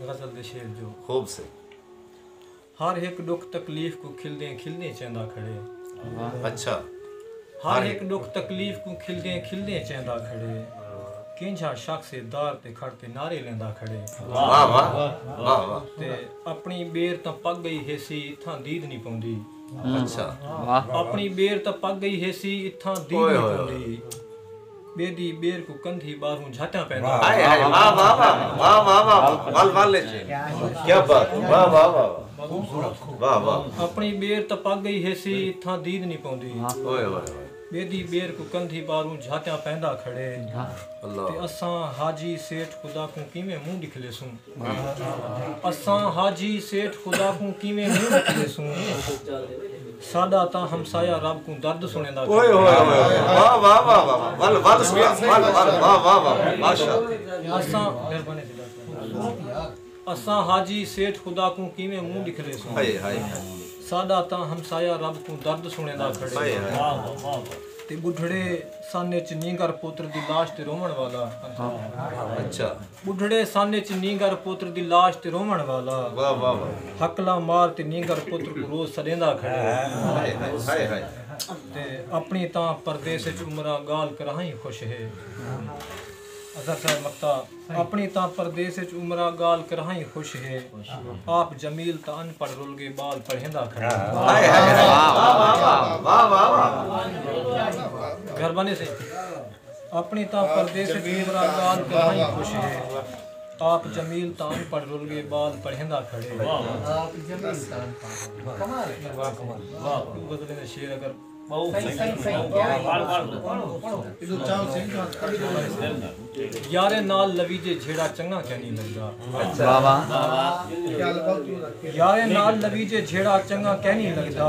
غزل دے شعر جو۔ خوب سے۔ ہر ہک ڈکھ تکلیف کوں کھلدیں کھلدیں چیندا کھڑے۔ اچھا۔ ہر ہک ڈکھ تکلیف کوں کھلدیں کھلدیں چیندا کھڑے۔ کینجھا شخص اے دار تے کھڑ تے نعرے لیندا کھڑے۔ واہ واہ واہ واہ۔ تے اپنی بیر تاں پک گئی ہیسی اتھاں دید نی پوندی۔ اچھا۔ اپنی بیر تاں پک گئی ہیسی اتھاں دید نی پوندی۔ ٻے دی ٻیر کوں کندھی ٻاہروں جھاٹاں پیندا ہا۔ اپݨی ٻیر تاں پک ڳئی ہیسی تھاں دید نی پوندی۔ ٻے دی ٻیر کوں کندھی ٻاہروں جھاٹاں پیندا کھڑے تے اساں حاجی سیٹھ خدا کوں کیویں منہ ݙکھلیسوں۔ اساں حاجی سیٹھ خدا کوں کیویں منہ ڈیکھیسوں ساڈا تاں ہمسایہ رب کوں درد سنڑیندا کھڑے تے بڈھڑے سن اچ نینگر پتر دی لاش تے روونڑ والا ٻڈھڑے سن اچ نینگر پتر دی لاش تے رووݨ والا ہکلاں مار تے نینگر پتر کوں روز سݙیندا کھڑے تے اپݨی تاں پردیس اچ عمراں ڳالھ کراہاں ای خوش ہے اظہر صاحب مقطع اپݨی تاں پردیس اچ عمراں ڳالھ کراہاں ای خوش ہے آپ جمیل تاں ان پڑھ رل ڳے ٻال پڑھیندا کھڑے مہربانی سئیں۔ اپݨی تاں پردیس اچ عمراں ڳال تے ہاں ای خوش ہے آپ جمیل تاں ان پڑھ رل ڳئے ٻال پڑھیندا کھڑے یاریں نال لویجے جھیڑا چنگا کیا نی لگدا یاریں نال لویجے جھیڑا چنگا کیا نی لگدا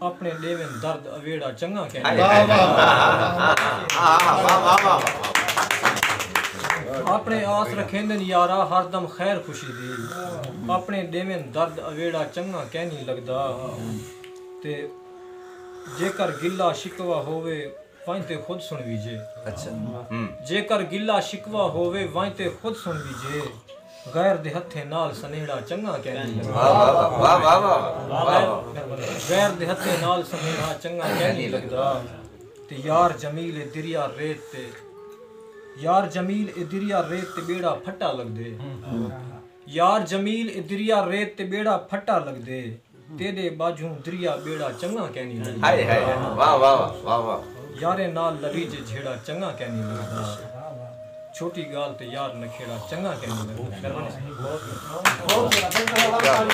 اپنے ڈیون درد اویڑا چنگا کہندے اپنے آس رکھیندن یارا ہر دم خیر خوشی دی اپنے ڈیون درد اویڑا چنگا کہنی لگدا تے جیکر گلہ شکوہ ہووے وائیں تے خود سن ویجے جیکر گلہ شکوہ ہووے وائیں تے خود سن ویجے غیر دے ہتھیں نال سنہڑا چنگاں کینی غیر دے ہتھیں نال سنہڑا چنگاں کینی لگدا تے یار جمیل اے دریا ریت تے یار جمیل اے دریا ریت تے بیڑا پھٹا لگدے یار جمیل اے دریا ریت تے بیڑا پھٹا لگدے تیݙے ٻاجھوں دریا ٻیڑا چنڳاں کینی لڳدا یاریں نال لویجے جھیڑا چنڳاں کینی لڳدا چھوٹی ڳالھ تے یار نکھیڑا چنڳاں کینی لڳدا۔